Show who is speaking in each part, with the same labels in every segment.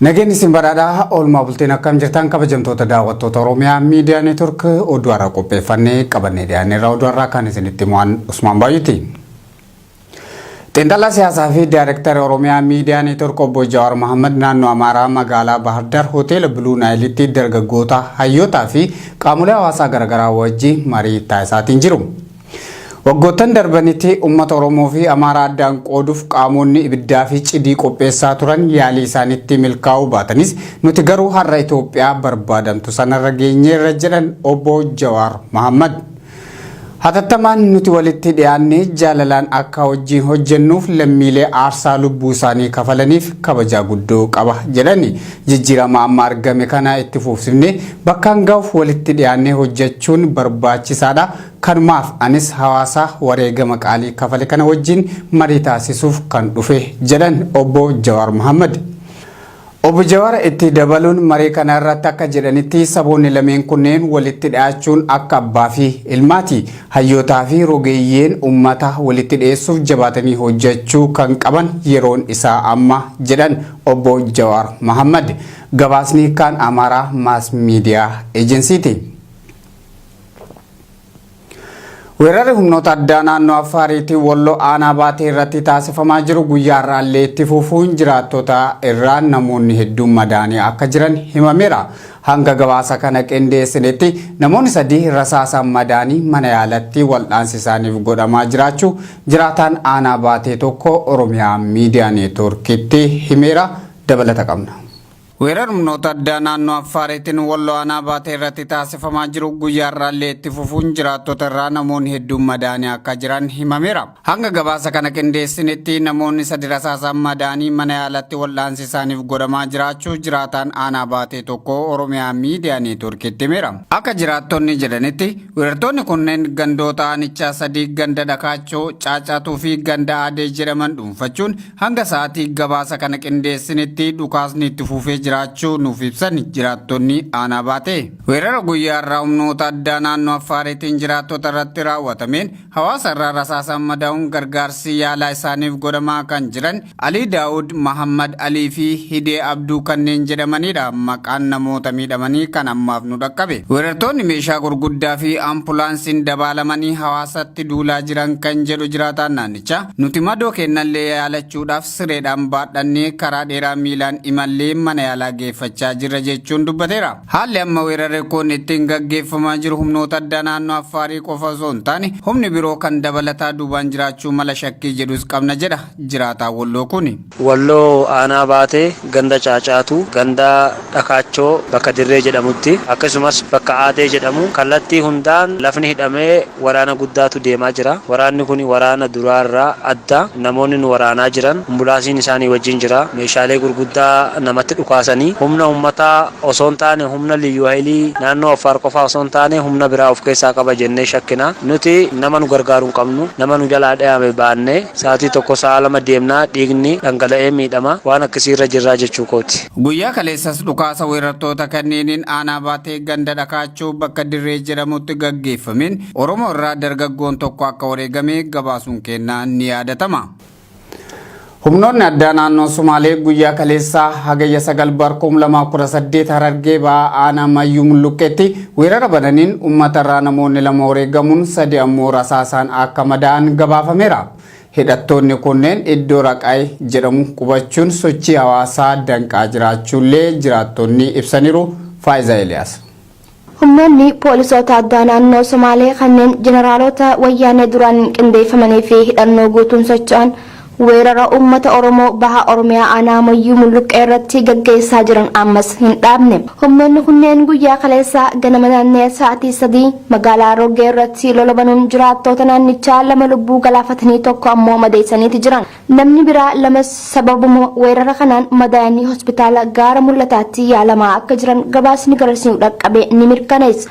Speaker 1: Nageenyi isin badhaadhaa oolmaa bultiin akkam jirtan kabajamtoota daawwattoota Oromiyaa miidiyaa neetwork oduu har'a qopheeffannee qabannee dhiyaanneerra oduu har'aa kan isinitti himu Usmaan Baay'eeti. Xiinxalaa siyaasaa fi Daayirektara Oromiyaa Miidiyaa Neetwork Obbo Jawaar Mohaammed naannoo Amaaraa magaalaa Baahirdaar Hoteela Biluu Naayilitti dargaggoota, hayyootaa fi qaamolee hawaasaa garaagaraa wajji marii taasisaatiin jiru. Waggoottan darbanitti uummata Oromoo fi Amaaraa addaan qooduuf qaamoonni ibiddaa fi cidii qopheessaa turan yaalii isaanitti milkaa'uu baatanis nuti garuu har'a Itoophiyaa barbaadamtu sanarra geenyeerra jedhan Obbo Jawaar Mohaammed. Hatattamaan nuti walitti dhiyaannee jaalalaan akka wajjiin hojjennuuf lammiilee aarsaa lubbuu isaanii kafalaniif kabajaa guddoo qaba jedhani. Jijjiirama amma argame kana itti fuufsifnee bakkaan ga'uuf walitti dhiyaannee hojjechuun barbaachisaadha. Kanumaaf anis hawaasa wareegama qaalii kafale kana wajjiin marii taasisuuf kan dhufe jedhan Obbo Jawaar Mahaammad. Obbo Jawaar itti dabaluun marii kana irratti akka jedhanitti saboonni lameen kunneen walitti dhiyaachuun akka abbaa fi ilmaati. Hayyootaa fi rogeeyyeen ummata walitti dhiyeessuuf jabaatanii hojjechuu kan qaban yeroon isaa amma jedhan Obbo Jawaar Mahaammad. Gabaasni Kaan Amaaraa Maas Miidiyaa Ejensiiti. Weerarri humnoota addaa naannoo Affaariitiin Walloo aanaa baatee irratti taasifamaa jiru guyyaa irraallee itti fufuun jiraattota irraa namoonni hedduun madaanii akka jiran himameera. Hanga gabaasa kana qindeessinetti namoonni sadii rasaasaan madaanii mana yaalatti waldhaansi isaaniif godhamaa jiraachuu jiraataan aanaa baatee tokko Oromiyaa Miidiyaa Neetwoorkitti himeera. Dabalata qabna. Weerar humnoota addaa naannoo Affaariitiin Walloo Aanaa Baatee irratti taasifamaa jiru guyyaa har'aallee itti fufuun jiraattota irraa namoonni hedduun madaa'anii akka jiran himameera. Hanga gabaasa kana qindeessinitti namoonni sadi rasaasaan madaa'anii mana yaalatti wal'aansi isaaniif godhamaa jiraachuu jiraataan Aanaa Baatee tokko Oromiyaa Miidiyaa Neetwoorkiitti himeera. Akka jiraattonni jedhanitti weerartoonni kunneen gandoota aanichaa sadii ganda Dhakaachoo, Caacaatuu fi ganda Aadee jedhaman dhuunfachuun Hanga sa'aatii gabaasa kana qindeessinitti dhukaasni itti fufee jiraachuu nuuf ibsan jiraattonni aanaa baatee. Weerara guyyaa irraa humnoota addaa naannoo Affaariitiin jiraattota irratti raawwatameen hawaasa irraa rasaasaan madaa'uun gargaarsi yaalaa isaaniif godhamaa kan jiran Alii Daawud, Mahaammad Alii fi Hidee Abduu kanneen jedhamaniidha maqaan namoota miidhamanii kan ammaaf nu dhaqqabe. Weerartoonni meeshaa gurguddaa fi Ampulaansiin dabaalamanii hawaasatti duulaa jiran kan jedhu jiraataan naannichaa. Jecha, Nuti madoo keennallee yaalachuudhaaf sireedhaan baadhannee karaa dheeraa miilaan imallee mana yaalaa geeffachaa jirra jechuun dubbateera. Haalli amma weerarri kun ittiin gaggeeffamaa jiru humnoota addaa naannoo Affaarii qofa osoo hin taane humni biroo kan dabalataa duubaan jiraachuu mala shakkii jedhus qabna jedha jiraataan Wolloo kuni. Walloo Aanaa
Speaker 2: Baatee ganda Caacaatuu ganda Dhakaachoo bakka Dirree jedhamutti akkasumas bakka Aadee jedhamu kallattii hundaan lafni hidhamee waraana guddaatu deemaa jira. Waraanni kuni waraana duraa irraa adda. Namoonni nu waraanaa jiran Ambulaasiin isaanii wajjin jira. Meeshaalee gurguddaa namatti dhukaasanii humna uummataa osoo hin taane humna Liyyuu Hayilii naannoo Affaar qofaa osoo hin taane humna biraa of keessaa qaba jennee shakkina. Nuti nama nu gargaaru hin qabnu. Nama nu jalaa dhayame baanne. Sa'atii tokko sa'a lama deemnaa dhiigni dhangala'ee miidhama. Waan akkasii irra jirraa jechuu kooti. Guyyaa kaleessas
Speaker 1: dhukaasa weerartoota kanneeniin aanaa Baatee ganda Dhakaachoo bakka Dirree jedhamutti gaggeeffameen Oromoo irraa dargaggoon tokko akka wareegame gabaasuun keenna ni yaadatama. Humnoonni addaa naannoo Sumaalee guyyaa kaleessaa Hagayya 9 bar 2018 Harargee Bahaa aanaa Mayyuu Mulluqqeetti Weerara bananiin ummatarraa namoonni lama wareegamuun sadi ammoo rasaasaan akka madaa'an gabaafameera. Hidhattoonni kunneen iddoo Raqaay jedhamu qubachuun sochii hawaasaa danqaa jiraachuullee jiraattonni ibsaniiru. Faayizaa Eliyaas. Humnoonni
Speaker 3: poolisoota addaa naannoo Somaalee kanneen jeneraalota wayyaanee duraan qindeeffamanii fi hidhannoo guutuun socho'an Weerara uummata Oromoo Baha Oromiyaa Aanaa Moyyuu Mulluqqee irratti gaggeessaa jiran ammas hin dhaabne. Humnoonni kunneen guyyaa kaleessaa ganama naannee sa'aatii 3:00 magaalaa Roggee irratti lola banuun jiraattoota naannichaa lama lubbuu galaafatanii tokko ammoo madeessaniiti jiran. Namni biraa lamas sababuma weerara kanaan madaayanii hospitaala Gaara Mul'ataatti yaalamaa akka jiran gabaasni garasii nu dhaqqabe ni mirkaneessa.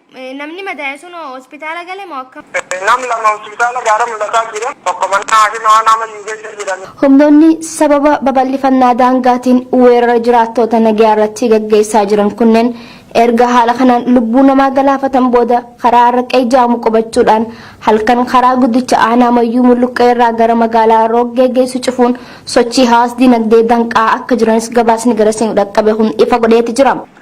Speaker 4: Namni
Speaker 3: madaa'e
Speaker 4: sun
Speaker 3: hoo
Speaker 4: hospitaala gale moo
Speaker 3: akkam?
Speaker 4: Nam lama hospitaala Gaara Mul'ataa jira. Tokko mana haakima aanaa Mayyuu keessa jira. Humnoonni sababa
Speaker 3: babal'ifannaa daangaatiin weerara jiraattoota nagayaa irratti gaggeessaa jiran kunneen erga haala kanaan lubbuu namaa galaafatan booda karaa Arraqee jedhamu qubachuudhaan halkan karaa guddicha aanaa Mayyuu Mulluqqee irraa gara magaalaa Rooggee geessu cufuun sochii hawaas-dinagdee danqaa akka jiranis gabaasni garasiin dhaqqabe kun ifa godheeti jira.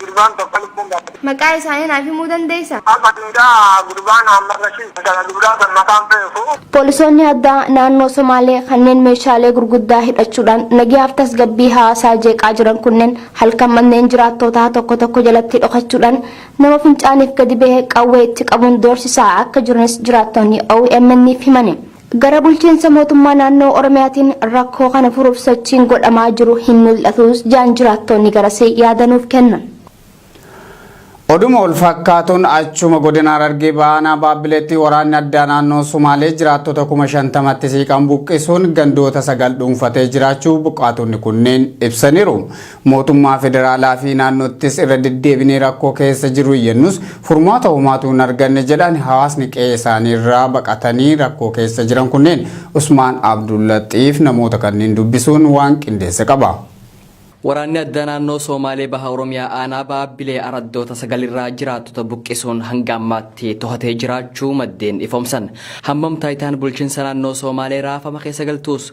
Speaker 4: Gurbaan tokko lubbuun baate. Maqaa isaanii naaf himuu
Speaker 3: dandeessa? Abba Duudaa,
Speaker 4: Gurbaa Naammal Rashiid jedhama. Duudaa san maqaan beeku. Poolisoonni addaa
Speaker 3: naannoo Somaalee kanneen meeshaalee gurguddaa hidhachuudhaan nageehaaf tasgabbii hawaasaa jeeqaa jiran kunneen halkan manneen jiraattootaa tokko tokko jalatti dhokachuudhaan nama fincaaniif gadi bahe qawwee itti qabuun doorsisaa akka jiranis jiraattonni OMN'f himani. Gara bulchiinsa mootummaa naannoo Oromiyaatiin rakkoo kana furuuf sochiin godhamaa jiru hin mul'atuus jaan jiraattoonni garasii yaada nuuf kennan.
Speaker 1: Oduma walfakkaatuun achuma godina Harargee Bahaa aanaa Baabbileetti waraanni addaa naannoo Sumaalee jiraattota kuma 50tti siiqan buqqisuun gandoota sagal dhuunfatee jiraachuu buqqaatonni kunneen ibsaniiru. Mootummaa federaalaa fi naannoottis irra deddeebinee rakkoo keessa jiru iyyannus furmaata homaatu hin arganne jedhan hawaasni qe'ee isaanii irraa baqatanii rakkoo keessa jiran kunneen. Usmaan Abdullaxiif namoota kanneen dubbisuun waan qindeesse qaba. Waraanni
Speaker 5: addaa naannoo Soomaalee Baha Oromiyaa Aanaa Baabbilee Araddoota 9 irraa jiraattota buqqisuun hanga ammaatti tohatee jiraachuu maddeen ifoomsan. Hammam taayitaan bulchinsa naannoo Soomaalee raafama keessa galtuus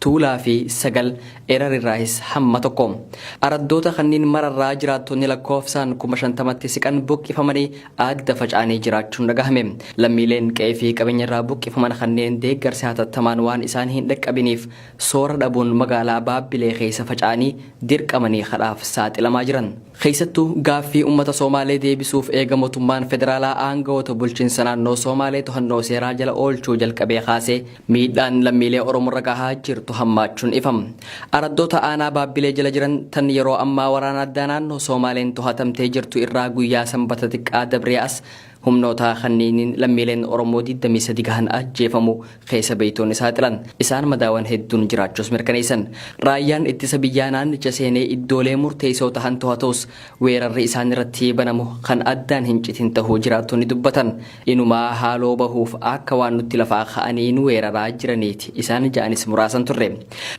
Speaker 5: Tuulaa fi Sagal, Erar irraahis hamma tokko. Araddoota kanniin mara irraa jiraattonni lakkoofsaan kuma shantamatti siqan buqqifamanii adda faca'anii jiraachuun dhagahame. Lammiileen qe'ee fi qabeenya irraa buqqifaman kanneen deeggarsi hatattamaan waan isaan hin dhaqqabiniif soora dhabuun magaalaa Baabbilee keessa faca'anii dirqamanii kadhaaf saaxilamaa jiran. Keessattuu gaaffii ummata Soomaalee deebisuuf eega motummaan federaalaa aangawoota bulchinsa naannoo Soomaalee tohannoo seeraa jala oolchuu jalqabee kaasee Miidhaan lammiilee Oromorra gahaa jirtu hammaachuun ifa. Araddoota aanaa Baabbilee jala jiran tan yeroo ammaa waraana addaa naannoo Soomaaleen tohatamtee jirtu irraa guyyaa Sanbata xiqqaa dabree as humnoota kanniiniin lammiileen Oromoo 23 gahan ajjeefamuu keessa beeytoonni saaxilan. Isaan madaawan hedduun jiraachuus mirkaneessan. Raayyaan ittisa biyyaa naannicha seenee iddoolee murteeysoo tahan tohatuus weerarri isaanirratti banamu kan addaan hin citin tahuu jiraattonni dubbatan. Inumaa haaloo bahuuf akka waan nutti lafaa ka'anii nu weeraraa jiraniiti isaan ja'anis muraasan turre.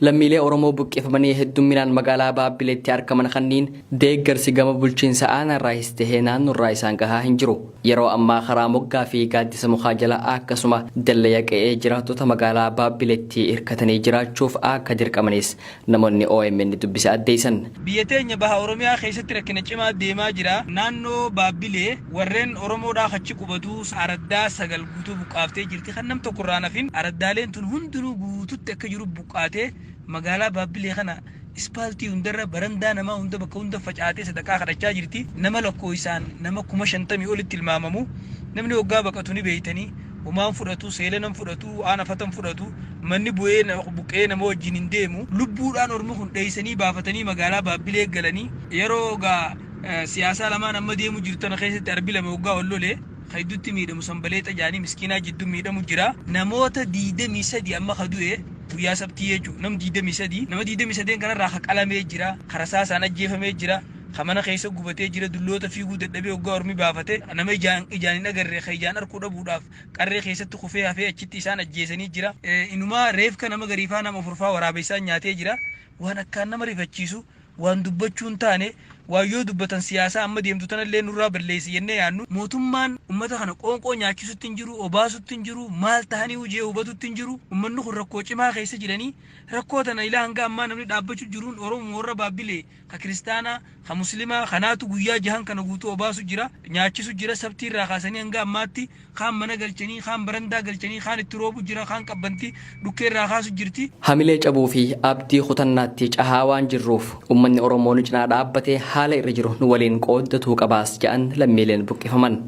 Speaker 5: Lammiilee Oromoo buqqifamanii heddumminaan magaalaa Baabbileetti arkaman kanniin deeggarsi gama bulchiinsa aanaarraahis tahee naannorraa isaan gahaa hin jiru. Yeroo ammaa karaa moggaa fi gaaddisa mukaa jala akkasuma dallaya qe'ee jiraattota magaalaa Baabbileetti irkatanii jiraachuuf akka dirqamanis Namoonni omn dubbise addeessan. Biyya teenya Baha
Speaker 6: Oromiyaa keessatti rakkina cimaa deemaa jira. Naannoo Baabbilee warreen Oromoodhaa achi qubatu araddaa 9 guutuu buqqaaftee jirti. Kan nam tokko irraa hin hafin araddaaleen tun hundinuu guututti akka jiru buqqaatee magaalaa Baabbilee kana ispaaltii hundarra, barandaa namaa hunda bakka hunda facaatee sadaqaa kadhachaa jirti. Nama lakkooysaan nama 50,000 olitti tilmaamamu. Namni hoggaa baqatu ni beeytanii. Homaan fudhatu, seelana hin fudhatu, waan afata hin fudhatu, manni bu'ee na- buqqa'ee nama wajjin hin deemu. Lubbuudhaan ormi kun dheessanii baafatanii magaalaa Baabbilee galanii yeroo gaa eh, siyaasaa lamaan amma deemu jiru tana keessatti arbi lama waggaa ol lole ka hedduutti miidhamu sanbaleexa jaanii miskiinaa jidduu miidhamu jira. Namoota 23 amma ka du'e guyyaa sabtii jechuudha. Nam 23 nama 23 kanarraa ka qalamee jira, ka rasaasaan ajjeefamee jira. ka mana keessa gubatee jira, dulloota fiiguu dadhabee oggaa ormi baafate, nama ijaan ijaan hin agarre ka ijaan arkuu dhabuudhaaf qarree keessatti kufee hafee achitti isaan ajjeesanii jira. Inumaa reefka nama gariifaa nama ofurfaa waraabessaan nyaatee jira. Waan akkaan nama rifachiisu, waan dubbachuu hin taane, waan yoo dubbatan siyaasaa amma deemtu tanallee nurraa balleessi jennee yaannu. Mootummaan ummata kana qoonqoo nyaachisutti hin jiru, obaasutti hin jiru, maal tahaniiyu je'ee hubatutti hin jiru. Ummanni kun rakkoo cimaa keessa jiranii, rakkoo tana ilaa hanga ammaa namni dhaabbachu jiruun Oromuma warra Baabbilee, ka kiristaanaa, ka muslimaa, kanaatu guyyaa jahan kana guutuu obaasu jira, nyaachisu jira, sabtii irraa kaasanii hanga ammaatti, kaan mana galchanii, kaan barandaa galchanii, kaan itti roobu jira, kaan qabbanti dhukkee irraa kaasu jirti. Hamilee cabuu fi
Speaker 5: abdii kutannaatti cahaa waan jirruuf, ummanni Oromoo nu cinaa dhaabbatee haala irra jiru nu waliin qooddatuu qabaas ja'an lammiileen buqqifaman.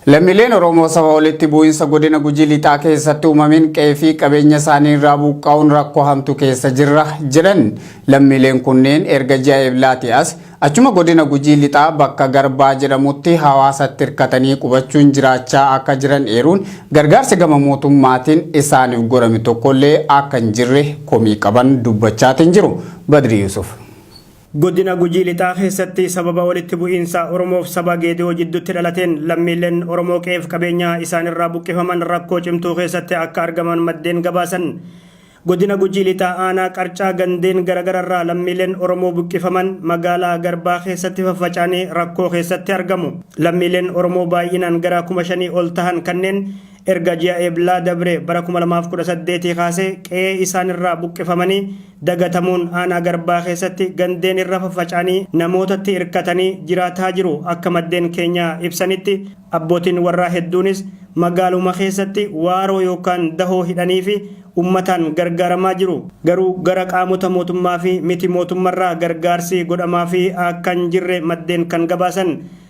Speaker 1: Lammiileen Oromoo saba walitti bu'iinsa godina Gujii lixaa keessatti uumameen qe'ee fi qabeenya isaanii irraa buqqaa'uun rakkoo hamtu keessa jirra jedhan lammiileen kunneen erga ji'a Eeblaati as achuma godina Gujii lixaa bakka Garbaa jedhamutti hawaasatti hirkatanii qubachuun jiraachaa akka jiran eeruun gargaarsi gama mootummaatiin isaaniif godhame tokkollee akka hin jirre komii qaban dubbachaatiin jiru. Badri Yuusuf. Godina
Speaker 7: Gujii Lixaa keessatti sababa walitti bu'iinsa Oromoof saba Geede'oo jidduutti dhalateen lammiileen Oromoo qe'eef qabeenyaa isaanirraa buqqifaman rakkoo cimtuu keessatti akka argaman maddeen gabaasan. Godina Gujii Lixaa Aanaa Qarcaa gandeen garagararraa lammiileen Oromoo buqqifaman magaalaa Garbaa keessatti faffaca'anii rakkoo keessatti argamu. Lammiileen Oromoo baay'inaan gara kuma shanii ol tahan kanneen erga ji'a Eblaa dabre bara 2018 kaasee qe'ee isaanirraa buqqifamanii dagatamuun aanaa Garbaa keessatti gandeen irra faffaca'anii namootatti irkatanii jiraataa jiru. Akka maddeen keenya ibsanitti abbootiin warraa hedduunis magaaluma keessatti waaroo yookaan dahoo hidhaniifi ummataan gargaaramaa jiru. Garuu gara qaamota mootummaafi miti mootummarraa gargaarsi godhamaafii akka hin jirre maddeen kan gabaasan.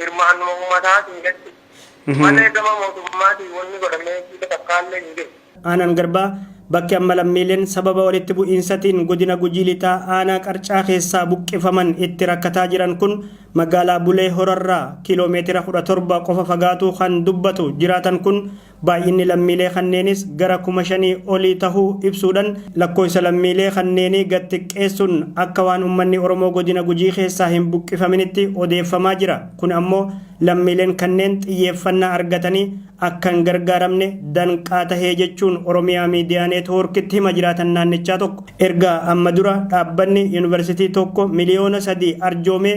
Speaker 4: Hirmaannuma ummataa keessatti malee gama mootummaatiin wanni godhameefii takkaallee hin jiru. Aanaan Garbaa
Speaker 7: bakki amma lammiileen sababa walitti bu'iinsatiin Godina Gujii Lixaa Aanaa Qarcaa keessaa buqqifaman itti rakkataa jiran kun magaalaa Bulee Horarraa km 17 qofa fagaatuu kan dubbatu jiraatan kun, Baay'inni lammiilee kanneenis gara kuma shanii olii tahuu ibsuudhan lakkooysa lammiilee kanneenii gad xiqqeessun akka waan ummanni Oromoo Godina Gujii keessaa hin buqqifaminitti odeeffamaa jira. Kun ammoo lammiileen kanneen xiyyeeffannaa argatanii akka hin gargaaramne danqaa tahee jechuun Oromia Media Network'tti hima jiraatan naannichaa tokko. Erga amma dura dhaabbanni Yunivarsitii tokko miliyoona sadii arjoomee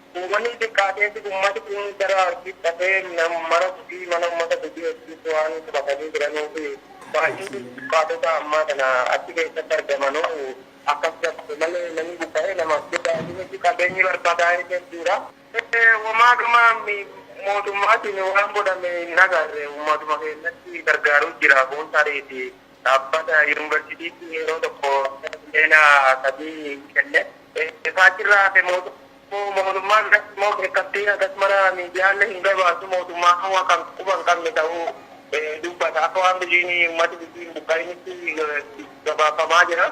Speaker 4: Uummanni hin xiqqaateefi uummati kun gara Arsiitti dhaqee mara gudii mana uummata gudii Arsiitti waan qubatanii jiranuufi baay'inni buqqaatotaa ammaa tana achi keessatti argamanu akkas dabale malee namni buqqa'ee nama guddaati miti qabeenyi barbadaa'ee hedduudha. Womaa gama mootummaatiin waan godhame hin agarre uummatuma keenyatti gargaaruu jira kun tariiti Dhaabbata Yuunvarsiitiitti yeroo tokko bara miliyoona sadii kenne. Egaa achirraa hafe mootummaa biratti immoo beekamtii hagas mara miidiyaalle hin gabaasu. Mootummaa Hawaa kan quba hin qabne ta'uu dubbata. Akka waan biyyiin uummati biyyii hin buqqa'initti gabaafamaa jira.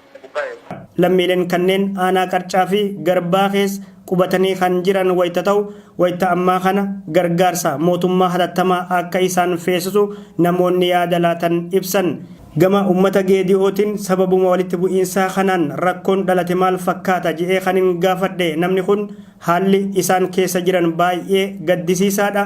Speaker 4: Lammiileen
Speaker 7: kanneen aanaa Qarcaa fi Garbaa keessa qubatanii kan jiran wayita ta'u, wayita ammaa kana gargaarsa mootummaa hatattamaa akka isaan feesisu namoonni yaada laatan ibsan. Gama uummata Geedi'ootiin sababuma walitti bu'iinsaa kanaan rakkoon dhalate maal fakkaata jedhee kanin gaafadhe namni kun haalli isaan keessa jiran baay'ee gaddisiisaadha.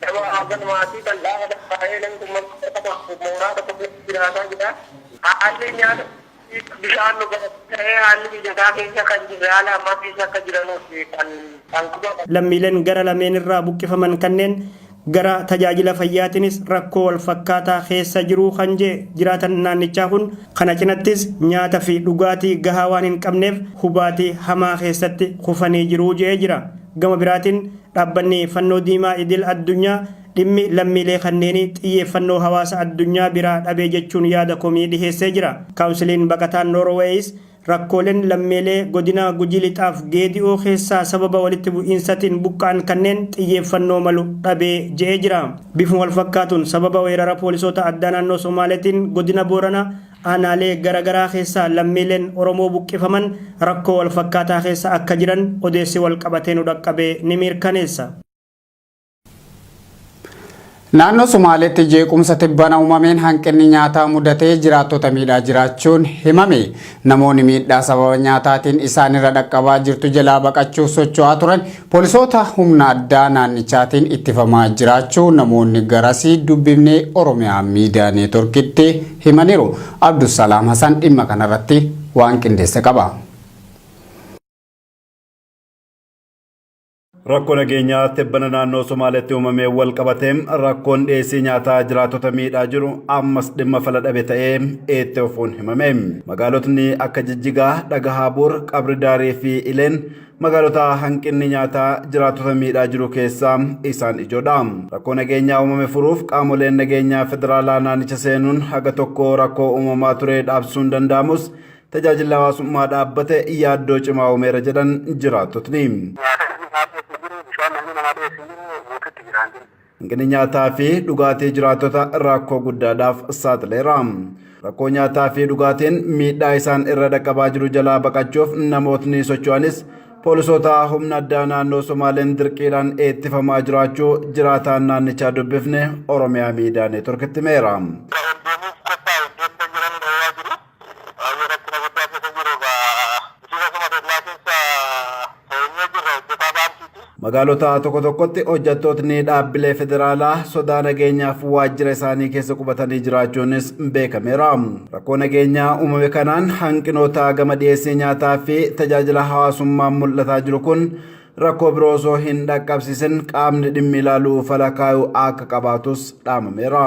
Speaker 4: Nama hagan maatii bal'aa lakkaa'ee namni kun mana barumsaa tokko fi mooraa tokko keessa jiraataa jira. Haalli nyaata dhugaatii fi bishaan dhugaatii ta'ee haalli mijataa keessa kan jirre haala ammaa keessa akka jiranuuti kan kan qubatan. Lammiileen gara lameen
Speaker 7: irraa buqqifaman kanneen gara tajaajila fayyaatinis rakkoo wal fakkaataa keessa jiru kan jee jiraatan naannichaa kun kana cinattis nyaata fi dhugaatii gahaa waan hin qabneef hubaatii hamaa keessatti kufanii jiru je'ee jira. Gama biraatiin Dhaabbanni Fannoo Diimaa Idil Addunyaa dhimmi lammiilee kanneenii xiyyeeffannoo hawaasa addunyaa biraa dhabe jechuun yaada komii dhiheessee jira. Kaawunsiliin Baqataa Noorweeyis rakkooleen lammiilee godina Gujii Lixaaf Geedi'oo keessaa sababa walitti bu'iinsatiin buqqa'an kanneen xiyyeeffannoo malu dhabe je'ee jira. Bifuma walfakkaatuun sababa weerara poolisoota addaa naannoo Somaaleetiin godina Booranaa Aanaalee gara garaa keessaa lammiileen Oromoo buqqifaman rakkoo wal fakkaataa keessa akka jiran odeessi wal qabatee nu dhaqqabe ni mirkaneessa.
Speaker 1: Naannoo Somaaleetti jeequmsa tibbana uumameen hanqinni nyaataa mudatee jiraattota miidhaa jiraachuun himame. Namoonni miidhaa sababa nyaataatiin isaanirra dhaqqabaa jirtu jalaa baqachuuf socho'aa turan poolisoota humna addaa naannichaatiin ittifamaa jiraachuu namoonni garasii dubbifnee Oromiyaa Miidiyaa Neetworkitti himaniiru. Abdusalaam Hasan dhimma kanarratti waan qindeesse qaba.
Speaker 8: Rakkoo nageenyaa tibbana naannoo Somaaleetti uumamee wal qabatee rakkoon dhiyeessii nyaataa jiraatota miidhaa jiru ammas dhimma fala dhabe ta'ee itti fufuun himame. Magaalotni akka Jijjigaa, Dhagahaa Buur, Qabri Daarii fi Ileen Magaalota hanqinni nyaataa jiraattota miidhaa jiru keessaa isaan ijoodha. Rakkoo nageenyaa uumame furuuf qaamoleen nageenyaa federaalaa naannicha seenuun haga tokko rakkoo uumamaa ture dhaabsuun danda'amus tajaajilli hawaasummaa dhaabbate yaaddoo cimaa uumeera jedhan jiraattotni. Nyaata namni nyaatu hin jiru, bishaan namni namaa dhiyeessu hin jiru, guututti jiraan jiru. Hanqinni nyaataa fi dhugaatii jiraattota rakkoo guddaadhaaf saaxileera. Rakkoo nyaataa fi dhugaatiin miidhaa isaan irra dhaqqabaa jiru jalaa baqachuuf namootni socho'anis poolisoota humna addaa naannoo Somaaleen dirqiidhaan eettifamaa jiraachuu jiraataan naannichaa dubbifne Oromiyaa Miidiyaa Neetworkitti himeera. Baay'ee rakkina guddaa keessa jiru egaa bulchiinsa Suma Dellaa keessa teenyee jirra hojjetaa baankiiti. Magaalota tokko tokkotti hojjattootni dhaabbilee federaalaa sodaa nageenyaaf waajjira isaanii keessa qubatanii jiraachuunis beekameera. Rakkoo nageenyaa uumame kanaan hanqinoota gama dhiyeessii nyaataa fi tajaajila hawaasummaan mul'ataa jiru kun rakkoo biroo osoo hin dhaqqabsiisin qaamni dhimmi ilaalu fala kaayuu akka qabaatus dhaamameera.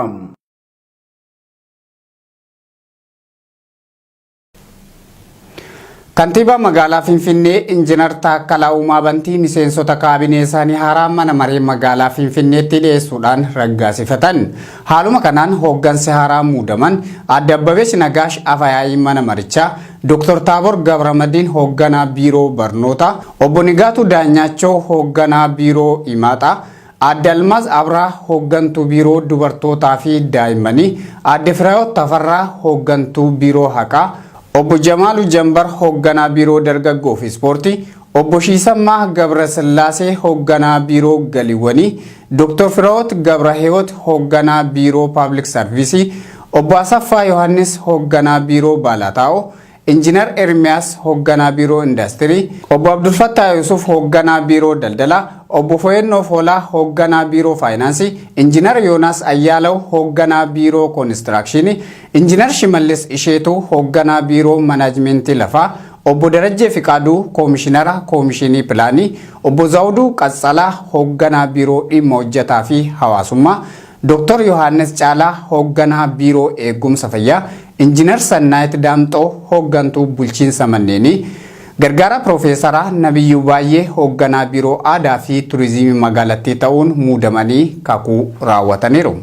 Speaker 1: Kantiibaa magaalaa Finfinnee Injiinar Taakkalaa Uumaa Bantii miseensota kaabinee isaanii haaraa mana maree magaalaa Finfinneetti dhiyeessuudhaan raggaasifatan. Haaluma kanaan hooggansi haaraa muudaman Aadde Abbabesh Nagaash Afayaa'ii mana marichaa, Dr. Taabor Gabramadiin hoogganaa biiroo barnootaa, Obbo Nigaatuu Daanyaachoo hoogganaa biiroo Imaaxaa, Aadde Almaaz Abraa Hooggantuu Biiroo Dubartootaa fi Daa'immanii, Aadde Firayoot Tafarraa Hooggantuu Biiroo Haqaa, Obbo Jamaalu Jambar Hoogganaa Biiroo Dargaggoo fi Ispoortii, Obbo Shiisammaa Gabrasillaasee Hoogganaa Biiroo Galiiwwanii, Doktor Firawoot Gabrahiwoot Hoogganaa Biiroo Paablik Sarviisii, Obbo Asaffaa Yohaannis Hoogganaa Biiroo Baalaataa'oo, Injinar Ermiyaas Hoogganaa Biiroo Indaastirii, Obbo Abdulfattaa Yuusuf Hoogganaa Biiroo Daldalaa, Obbo Foyennoo Foolaa Hoogganaa Biiroo Faayinaansii, Injinar Yoonaas Ayyaalaw Hoogganaa Biiroo Konistiraakshiinii, Injinar Shimallis Isheetuu Hoogganaa Biiroo Manaajmentii Lafaa, Obbo Darajjee Fiqaaduu Koomishinara Koomishiinii Pilaanii, Obbo Zawuduu Qatsala Hoogganaa Biiroo Dhimma Hojjataa fi Hawaasummaa, Doktar Yohaannis Caalaa Hoogganaa Biiroo Eegumsa Fayyaa, Injiinar Sannaayit Daamxoo Hooggantuu Bulchiinsa Manneenii, Gargaaraa Piroofeesaraa Nabiyyuu Baayyee Hoogganaa Biiroo Aadaa fi Turiziimii Magaalattii ta'uun muudamanii kakuu raawwataniiru.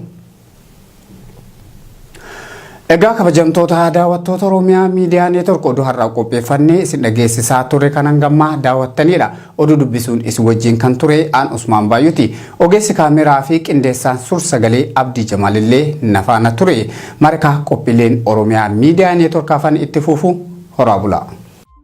Speaker 1: Egaa kabajamtoota daawwattoota Oromiyaa Miidiyaa Neetwork oduu har'aa qopheeffannee isin dhageessisaa turre kan hangammaa daawwattaniidha. Oduu dubbisuun isin wajjin kan ture aan Usmaan Baay'uti. Ogeessi kaameeraa fi qindeessaan suur sagalee Abdii Jamaalillee nafaana ture. Marikaa qophiileen Oromiyaa Miidiyaa Neetwork afan itti fufu horaa bulaa.